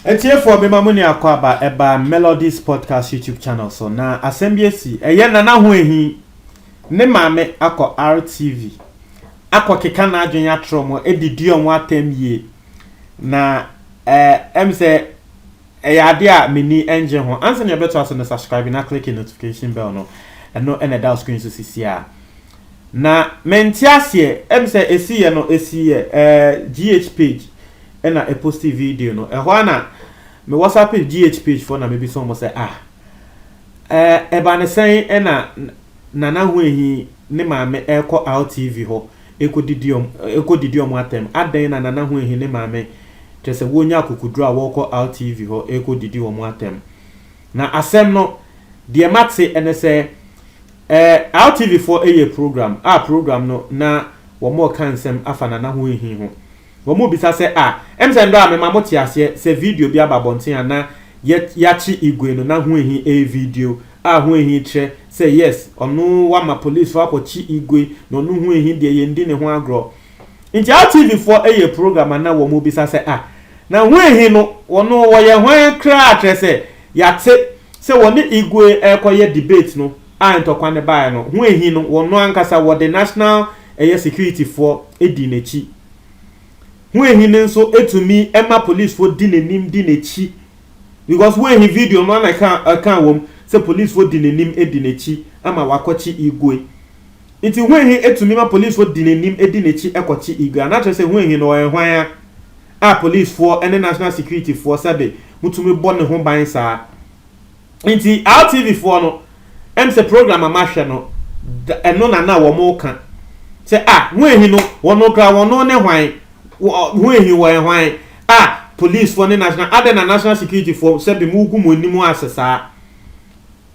Atiefoɔ mema mo ne akwaaba ɛba Melodies Podcast YouTube channel so na asɛm bi asi ɛyɛ Nana ho ahi ne maame akɔ RTV akɔ keka n'adwene atorɔ mo ɛde di ɔmo atɛm yie na ɛɛ ɛm sɛ Ɛyɛ adeɛ a m'ani ngye ho. Ansa na yɛbɛtoa so no subscribe na click notification bell no, ɛno na ɛda wo screen so sisiaa. Na mente aseɛ, ɛm sɛ ɛsiiɛ no ɛsiiɛ ɛɛ GH page ɛna ɛposti video no, ɛhɔ ara na me whatsapp GH page foɔ na mebisa wɔn sɛ ah ɛɛ ɛba ne sɛn ɛna Nana Huahi ne maame ɛrekɔ Altv hɔ Ɛkɔdidi wɔn atɛm. Adɛn na Nana Huehi ne Maame kyerɛ sɛ wɔrenya akokoduro a wɔrekɔ RTV hɔ rekɔdidi wɔn atɛm? Na asɛm no, deɛ mate ne sɛ, eh, RTVfoɔ yɛɛ program a program no na wɔreka nsɛm afa Nana Huehi ho. Wɔbisa sɛ, A, ɛm sɛ ndɔ a mema mo te aseɛ sɛ video bi aba abɔnten a na yɛ yakye Igwe no na ho ehi ee video a ho ehi kyerɛ sɛ yes ɔno wama police foɔ akɔ kye Igwe na ɔno ho ehi deɛ yɛn di ne ho agorɔ nti a TV foɔ yɛ program a na wɔn bisa sɛ a na ho ehi no wɔno wɔyɛ hwan kraa kyerɛ sɛ yate sɛ wɔne Igwe ɛɛkɔ yɛ debate no a ntɔkwa no baeɛ no ho ahi no wɔn no ankasa wɔde national ɛyɛ security foɔ dii n'akyi ho ahi no nso tumi ma police foɔ di n'anim di n'akyi because ho ahi video no ana ɛka ɛka wɔm sɛ police foɔ di n'anim di n'akyi ama wakɔkye igwe nti ho ahi tumi ma police foɔ di n'anim di n'akyi kɔkye igwe anakyerɛ sɛ ho ahi no ɔyɛ hwan a a police foɔ ne national security foɔ sɛbe mutumi bɔ ne ho ban saa Nti Altv foɔ no ɛm sɛ program a mahwɛ no da ɛno na na wɔn reka sɛ ah huehi no wɔn kura wɔn ne hwan wɔ huehi wɔ ɛhwan ah police foɔ ne national adɛn na national security foɔ sɛ bi mo gu mo anim ase saa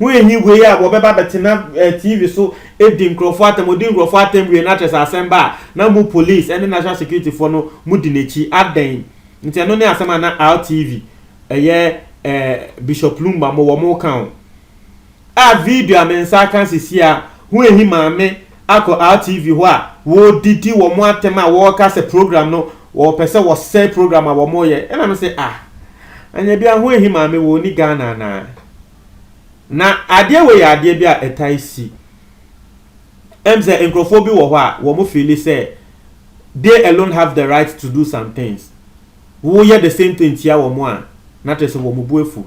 huehi wei a wɔbɛba bɛtena eh, tv so edi nkurɔfoɔ atɛm odi nkurɔfoɔ atɛm wie na kyerɛ sɛ asɛm ba a na mo police ɛne national security foɔ no mo di n'akyi adɛn nti ɛno ne asɛm a na Altv ɛyɛ ɛɛ Bishop Lumba mo wɔn ka ho. A video a me nsa aka sisi a ho ehi maame akɔ RTV hɔ a wɔredidi wɔn atɛm a wɔreka sɛ program no wɔpɛ sɛ wɔsɛe program a wɔreyɛ ɛna me sɛ ah anya bi a ho ehi maame wɔ ni Ghana anaa na adeɛ wɔ yɛ adeɛ bi a ɛtae si ɛm sɛ nkurɔfoɔ bi wɔ hɔ a wɔn feeli sɛ they alone have the right to do some things Wo yɛ the same thing tia wɔn a na kyerɛ sɛ wɔn bo afu.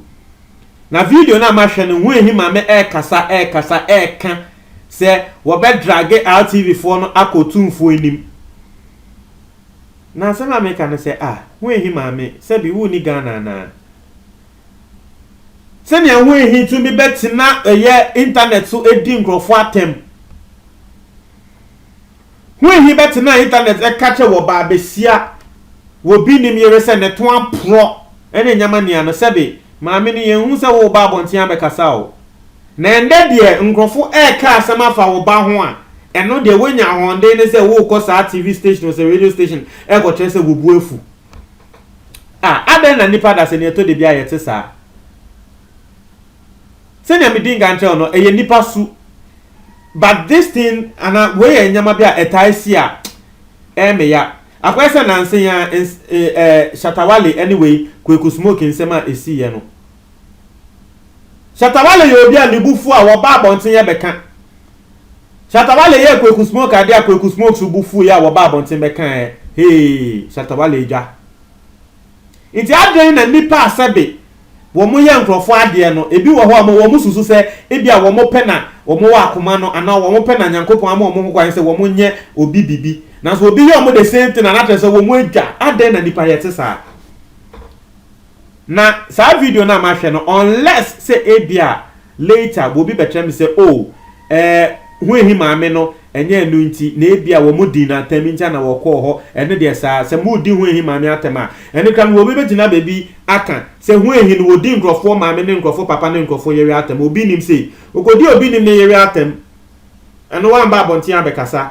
Na video no a mahwɛ no hu ehi maame ɛɛkasa ɛɛkasa ɛɛka sɛ wɔbɛ drage RTV foɔ no akɔ Tumfoɔ anim. Na asɛm a meka ne sɛ ah hu ehi maame sɛbi wo nni Ghana anaa? Sɛnea hu ehi tumi bɛ tena ɛyɛ internet so edi nkorɔfoɔ atɛm. Ho ehi bɛtena Intanɛt ɛka kyɛ wɔ baa besia wɔ bi nim yere sɛ ne to aporɔ ɛne nyɛma nia no sɛbe maame no yɛn hu sɛ wo ba abɔnten abɛ kasa o na ɛndɛ deɛ nkorɔfo ɛɛka asɛm afa wo ba ho a ɛno deɛ wanya ahɔnden ne sɛ wo kɔ saa TV station ɔsɛ radio station ɛkɔ kyerɛ sɛ wo bo afu a adɛn na nipa dasɛ nia ɛtɔ dabi a yɛte saa. sɛnea medii nkan kyerɛw no, ɛyɛ nnipa su. But this thing, anaa wei yɛ nneɛma bi a ɛtae si a, ɛyɛ me ya. Akɔyɛ sɛ nnansa yi ara, ns, eh, eh, Shatta Wale ne wei, Kweku Smoke nsɛm a esiiɛ no. Shatta Wale yɛ obi a ne bo fu a, wɔba abɔnten yɛ bɛka. Shatta Wale yɛɛ Kweku Smoke adeɛ a Kweku Smoke so bo fuiɛ a wɔba abɔnten bɛkaeɛ. Hey, Shatta Wale adwa. Enti adɛn na nnipa a sɛbe wɔyɛ nkurɔfo adeɛ no, ebi wɔ hɔ a wɔsusu sɛ ebia wɔn pɛ na wɔwɔ akoma no anaa wɔn pɛ na Nyankopɔn ama wɔn hokwan sɛ wɔnyɛ obi biribi, nanso obi yɛ wɔn the same thing a na kyerɛ sɛ wɔadwa? Adɛn na nnipa yɛ te saa? Na saa video no a mahwɛ no, unless sɛ ebia later obi bɛkyerɛ me sɛ oh, Ɛɛ, Huahi maame no, ɛnyɛ ɛno nti, na ebia wɔn dii no atɛm nti na wɔkɔɔ hɔ. Ɛno deɛ saa. Sɛ moredi Huahi maame atɛm a, ɛno kora no obi bɛgyina baabi aka sɛ Huahi no wɔdi nkurɔfoɔ maame ne nkurɔfoɔ papa ne nkurɔfoɔ yere atɛm. Obi nnim sei. Ɔkɔdii obi nnim ne yere atɛm. Ɛno wamma abɔnten abɛkasa.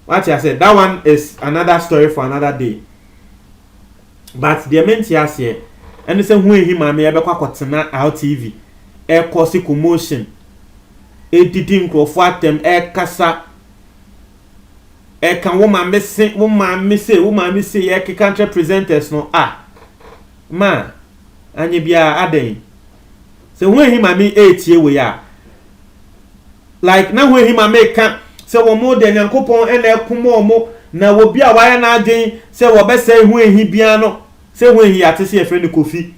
Woate aseɛ? That one is another story for another day. But deɛ mente aseɛ ɛne sɛ ho ahi maame yɛ bɛkɔ akɔtena rtv ɛkɔse commotion ɛdidi nkurɔfoɔ atɛm ɛkasa ɛka wo maame se wo maame sei wo maame sei ɛkeka nkyerɛ presenters no ah maa anyɛ biaa adɛn. Sɛ hɔn enyim a meetsie wei a, like na hɔn enyim a mekã sɛ wɔn dɛ Nyankopɔn na ɛko ma wɔn, na obi a ɔayɛ n'adwen sɛ wɔbɛsɛe hɔn ehi biara no, sɛ hɔn ehi yɛatse sɛ yɛfrɛ no Kofi,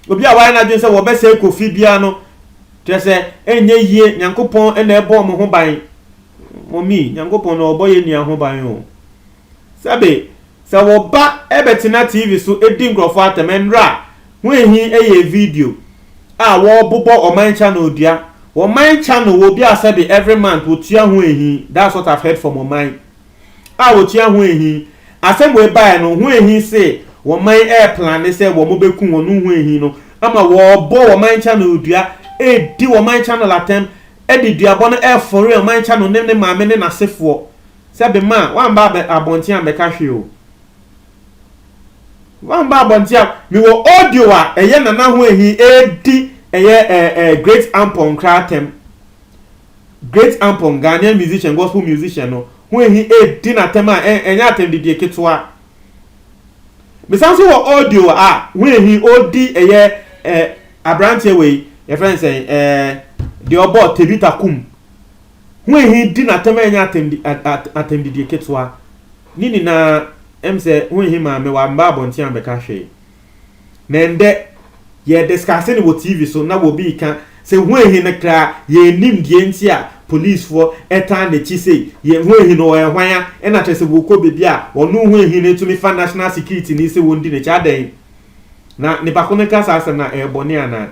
obi a ɔayɛ n'adwen sɛ wɔbɛsɛe Kofi biara no, kyerɛ sɛ nnyɛ yie, Nyankopɔn na ɛbɔ wɔn ho ban. Mommy, Nyankopɔn na ɔbɔ yɛn nua ho ban o. Sɛbe, sɛ wo ba bɛtena TV so di nkurɔfo atɛm nnɛr a, ho ehi yɛ video a wɔbobɔ ɔman channel dua. Ɔman channel wɔ bi a sɛbe every month wotua ho ehi, that's what I've heard from ɔman a wotua ho ehi. Asɛm wei baeɛ no, ho ehi se ɔman replane sɛ wɔbɛku wɔn no ho ehi no ama wɔbɔ ɔman channel dua redi ɔman channel atɛm de duabɔ no refore ɔman channel ne ne maame ne n'asefoɔ. sɛ be ma a, woamba abɛ abɔnten ambɛka hwee o. Woamba abɔnten a, mewɔ audio a ɛyɛ Nana Hoahi redi ɛyɛ ɛɛ ɛɛ Great Ampong kra atɛm. Great Ampong, Ghanaian musician, gospel musician no, Hoahi redi no atɛm a, ɛ ɛnyɛ atɛmdidie ketewa. Mesan nso wɔ audio a Hoahi ɔredi ɛyɛ ɛɛ abranteɛ wei, yɛfrɛ no sɛn, ɛɛ deɛ ɔbɔ Tebita Kum. ho ehi di no atɛm a ɛnyɛ atɛmdi atɛmdidie ketewa ne nyinaa ɛm sɛ ho ehi maa me wamma abɔnten ammɛka hwee na ɛndɛ yɛ discuss no wɔ TV so na wɔ bi ka sɛ ho ehi no kra yɛ nim deɛ nti a police foɔ ɛtaa n'akyi sei yɛ ho ehi no ɔyɛ hwan a ɛna kyerɛ sɛ wɔkɔ baabi a ɔno ho ehi no tumi fa national security ni sɛ wɔndi n'akyi adɛn na nipa ko no ka saa asɛm na ɛyɛ bɔne anaa.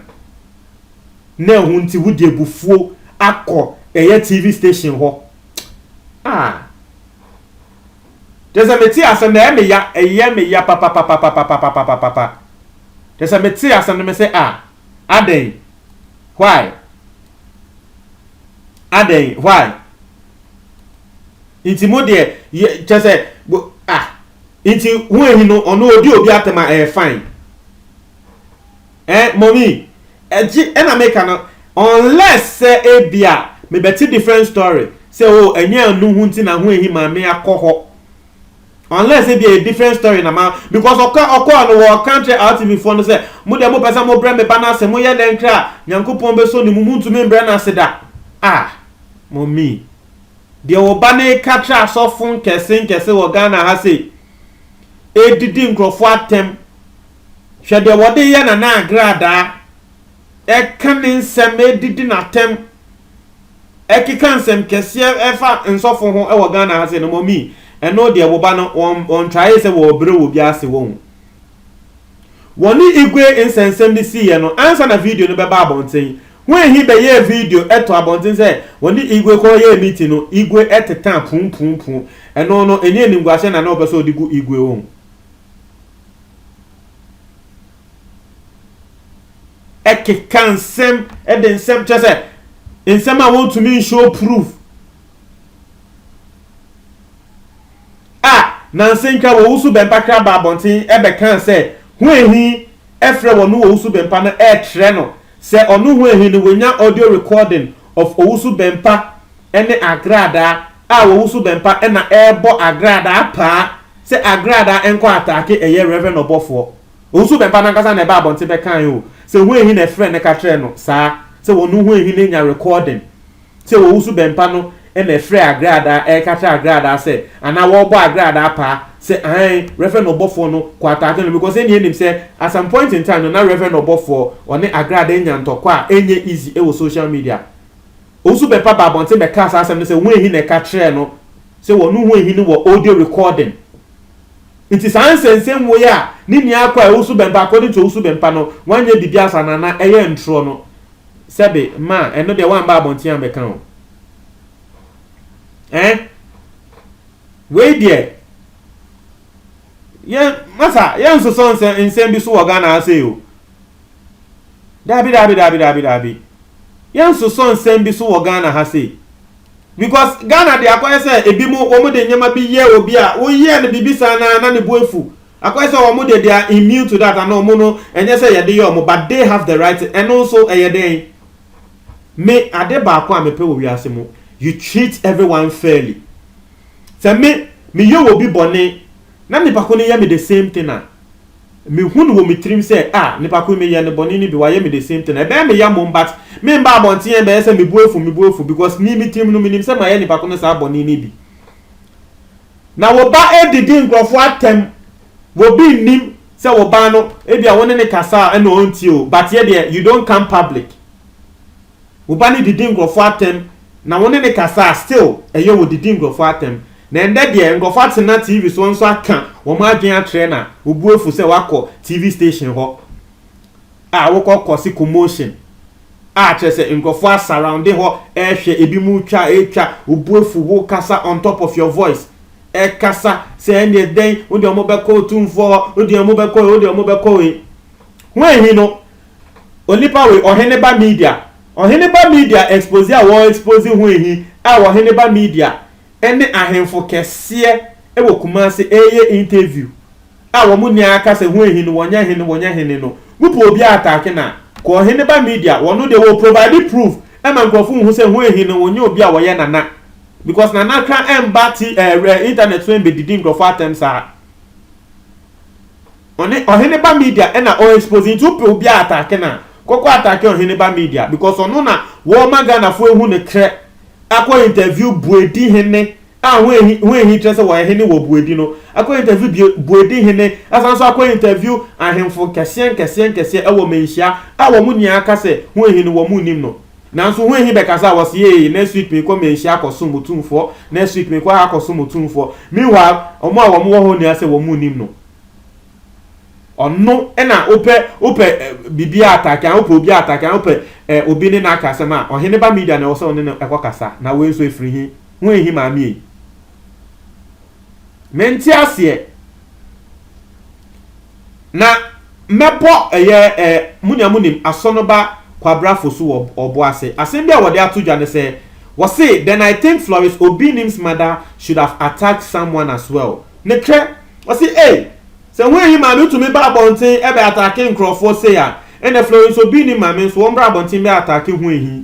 na ɛho nti wode abufuo akɔ ɛyɛ TV station hɔ ah Kyɛ sɛ mete asɛm no ɛyɛ me ya ɛyɛ me ya papapapapapapapapapa Kyɛ sɛ mete asɛm no mese ah adɛn why adɛn why Nti mo deɛ yɛ kyɛ sɛ bo ah Nti ho ahi no ɔno odi obi atɛm a ɛyɛ fine. Eh mommy ɛgye ɛna meka no unless sɛ ebia mebɛte different story sɛ oh ɛnyɛ ɛno ho nti na ho ahi ma me akɔ hɔ unless ebia ɛyɛ different story na ma because ɔka ɔkɔɔ no wɔ ɔka kyerɛ rtv foɔ no sɛ mo deɛ mopɛ sɛ mobrɛ me ba no ase moyɛ dɛn kra a Nyankopɔn bɛsɔ ne mu montumi mbrɛ no ase da ah mommy deɛ wo ba no reka kyerɛ asɔfo nkɛse nkɛse wɔ Ghana ha sei ɛredidi nkurɔfoɔ atɛm Hwɛ deɛ wɔde yɛ Nana Agradaa, ɛka ne nsɛm, ɛdidi n'atɛm, ɛkeka nsɛmkɛseɛ ɛfa nsɔfo ho ɛwɔ Ghana ha sei no mɔmii, ɛno deɛ wo ba no wɔn trayee sɛ wɔɔbrɛ wɔ obiara ase wɔhu. Wɔne Igwe nsɛnsɛm no siiɛ no ansa na video no bɛba abɔnten, when he bɛyɛɛ video ɛtoo abɔnten sɛ wɔne Igwe kɔɔyɛɛ meeting no, Igwe ɛtetaa puupuupuu, ɛno no ɛni animguaseɛ na na ɔpɛ sɛ ɔde gu Igwe wɔhu. ɛkeka nsɛm ɛde nsɛm kyɛ sɛ nsɛm a wɔntumi nhyɛ proof a nansentwa wɔ wusu bɛmpa kra ba abɔnten ɛbɛka sɛ ho ehi ɛfrɛ wɔn wɔ wusu bɛmpa no ɛkyerɛ no sɛ ɔno ho ehi no wɔnya audio recording of owusu bɛmpa ɛne agradaa a wɔ wusu bɛmpa ɛna ɛbɔ agradaa paa Sɛ Agrada nkɔ ataake ɛyɛ Rev. Ɔbɔfoɔ. Owusu Bɛmpa no ankasa na ɛbaa abɔnten bɛkae oo, sɛ hwan hi na ɛfrɛ no ka kyerɛɛ no saa, sɛ ɔno hwan hi no nya recording sɛ Owusu Bɛmpa no na ɛfrɛɛ Agrada ɛreka kyerɛ Agrada sɛ anaa wɔrebɔ Agrada paa sɛ aane Rev. Ɔbɔfoɔ no kɔ ataake no because ɛnneɛ nim sɛ at some point in time no na Rev. Ɔbɔfoɔ ɔne Agrada anya ntɔkwa a ɛnyɛ easy wɔ social media Owusu Bempah baa abɔnten bɛkaa saa asɛm no sɛ Huehin na ɛka kyerɛɛ no sɛ wɔne Huehin no wɔ audio recording. Nti saa nsɛnsɛmmuo yi a ne nia kɔ a Owusu Bempah, according to Owusu Bempah no, wanyɛ biribiara saa no anaa ɛyɛ ntorɔ no, sɛbe, ma, ɛno deɛ wamma abɔnten ammɛka o. Ɛɛ? Wei deɛ, yɛn, masa, yɛnsosɔ nsɛm, nsɛm bi so wɔ Ghana ha sei o. Daabi daabi daabi daabi daabi yɛnsosɔ nsɛm bi so wɔ Ghana ha sei because Ghana de akɔyɛ sɛ ebi mo wɔn de nneɛma bi yɛ obi a woyɛ no biribi saa na na ne bu efu akɔyɛ sɛ wɔn de they are immune to that ana wɔn no ɛnyɛ sɛ yɛde yɛ wɔn but they have the right ɛno nso ɛyɛ dɛn me ade baako a mepɛ wɔ wiase mu you treat everyone fairly sɛ me meyɛ wɔ bi bɔne na nipa ko no yɛ me the same thing a. Mehu no wɔ me tirim sɛ ah nipa ko yi me yɛ no bɔne no bi wayɛ me the same thing ɛbɛyɛ me ya mmom but me mba abɔnten a ɛbɛyɛ sɛ me bo afu me bo afu because me me tirim no me nim sɛ mayɛ nipa ko no saa bɔne no bi. Na wo ba redidi nkurɔfoɔ atɛm obi nnim sɛ wo ba no ebia wo ne no kasa a ɛna ɔntie o but yɛ deɛ you don't come public Wo ba no didi nkurɔfoɔ atɛm na wo ne no kasa a still ɛyɛ wɔdidi nkurɔfoɔ atɛm. Na ɛndɛ deɛ nkurɔfoɔ atena TV soɔ nso aka wɔn adwene akyerɛ na wo bo afu sɛ woakɔ TV station hɔ a wokɔ kɔse commotion a kyerɛ sɛ nkurɔfoɔ asurrounde hɔ ɛrehwɛ ebi mu twa a ɛretwa wo bo afu wo kasa on top of your voice ɛkasa sɛ ɛndeɛ dɛn wo deɛ wɔn bɛkɔ otumfoɔ hɔ wo deɛ wɔn bɛkɔ wei wo deɛ wɔn bɛkɔ wei. Ho ahi no Onipa wei ɔhene ba media ɔhene ba media expose a wɔ expose ho ehi a ɔhene ba media ɛne ahenfo kɛseɛ ɛwɔ kumase ɛɛyɛ interview a wɔn nyɛ akasa ho ehi no wɔnyɛ hene wɔnyɛ hene no mo pɛ obi atake no a kɔ ɔhene ba media wɔno deɛ wɔ provide proof ɛma nkorɔfo nhu sɛ ho ehi no wɔnyɛ obi a wɔyɛ nana because nana kra ɛmba ti ɛɛ internet so ɛmbɛdidi nkorɔfo atɛm saa. Ɔne ɔhene ba media ɛna ɔ expose nti wopɛ obi a atake no a kɔkɔ atake ɔhene ba media because ɔno na wɔma Ghana foɔ ehu no krɛ akɔ interview buedi hene a ho ehi ho ehi kyerɛ sɛ wɔyɛ hene wɔ buedi no akɔ interview bue buedi hene asan nso akɔ interview ahemfo nkɛseɛ nkɛseɛ nkɛseɛ ɛwɔ manhyia a wɔn nyinaa ka sɛ ho ehi no wɔn nnim no nanso ho ehi bɛkasa wɔ se ee next week mekɔ manhyia akɔ som otumfoɔ next week mekɔ ha akɔ som otumfoɔ meanwhile wɔn a wɔn wɔ hɔ nyinaa sɛ wɔn nnim no Ɔno na wopɛ wopɛ biribi atake a wopɛ obi atake a wopɛ obi ne n'aka asɛm a ɔhene ba media na ɛwɔ sɛ ɔne no ɛkɔ kasa na wei nso efiri hi ho ehi maame yi mente aseɛ na mɛbɔ ɛyɛ ɛ munya munim asɔnoba kwabra fosu wɔ ɔbo ase asɛm bi a wɔde ato dwa ne sɛ wɔse then I think Florence Obinim's mother should have attacked someone as well Ne kɛ, ɔse ei, sɛ ho eyi maa me tumi ba abɔnten bɛ atake nkorɔfoɔ sei a, ɛnɛ Florence nso obi nnim ma me nso wɔmmra abɔnten bɛ atake ho ehi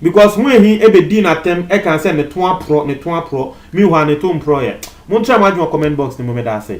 because ho ehi bɛ dii n'atɛm ɛkaa sɛ ne to aporɔ, ne to aporɔ, meanwhile ne to mporɔeɛ. Monkyerɛ mo adwene wɔ comment box no mu, meda ase.